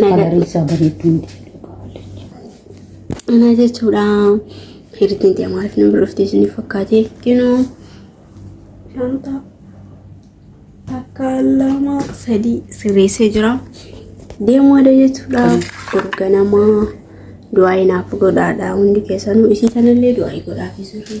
Kalarii isaa bareedduu miti fedhuu qaballe. Ana jechuudha. Hiritiin ta'e maaliif nama dhuftee isiniif fakkaatee kinoo. Shanta takka lama sadii sirreessee jira. Deemaadha jechuudha. Gurganamaa du'aa inaaf godhaadha hundi keessanuu isii kanallee du'aa godhaaf jiru.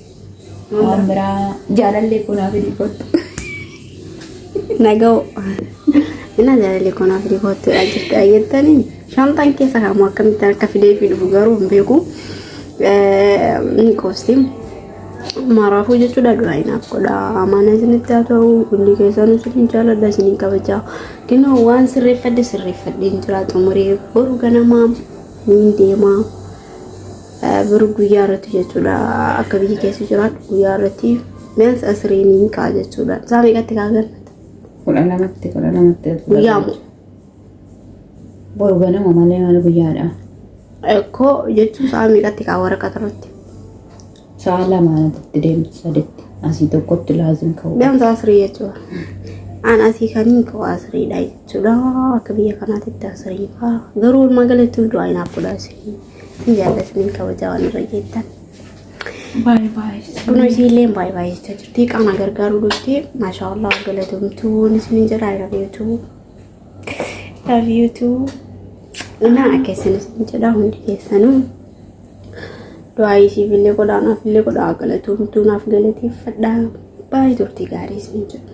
Waan biraa jaalallee koo naaf hidhii kottu. Naga'oo. Innaa jaalallee koo naaf hidhii kottu dha jirtu ayyattanii. Shanxaan keessa kaamu akkamitti akka fidee fi dhufu garuu hin beeku. Ni qoosti. Maraafuu jechuudha duraa inaaf godha. Amaana isinitti haa ta'u hundi keessanuu isiniin jaaladha isiniin kabaja. Kinoo waan sirreeffadhe sirreeffadhe hin jira xumuree boru ganamaa ni deemaa. Boru guyyaa irratti jechuudha akka biyya keessa jiraadhu guyyaa irratti means asiriin hin ka'a jechuudha. Isaa meeqatti kaa galmata? Kudha lamatti kudha lamatti. Guyyaa moo? Boru ganama malee maal guyyaadha. Ekkoo jechuun isaa meeqatti kaa waraqata irratti? Sa'a lamaatti deemtu saditti asii tokkotti laazim ka'u. Means asirii jechuudha. An asii kan hin ka'u asiriidha jechuudha akka biyya kanaatti asiriin ka'a. Garuu walumaa galatti du'aa hin haafudha asiriin. Isin jaallatanii kabajaa waan irra geettan. Baay baay. Buna isiillee baay baay jechaa jirti. Qaama gargaaruu dhufti. Maashaa Allah galatamtuun isin jira rabiitu. Rabiitu. Naa keessan isin jedha hundi keessanuu. Du'aa isiifillee godhaa naafillee godhaa galatamtuu naaf galateeffadha. Baay'ee turtii gaarii isin jedha.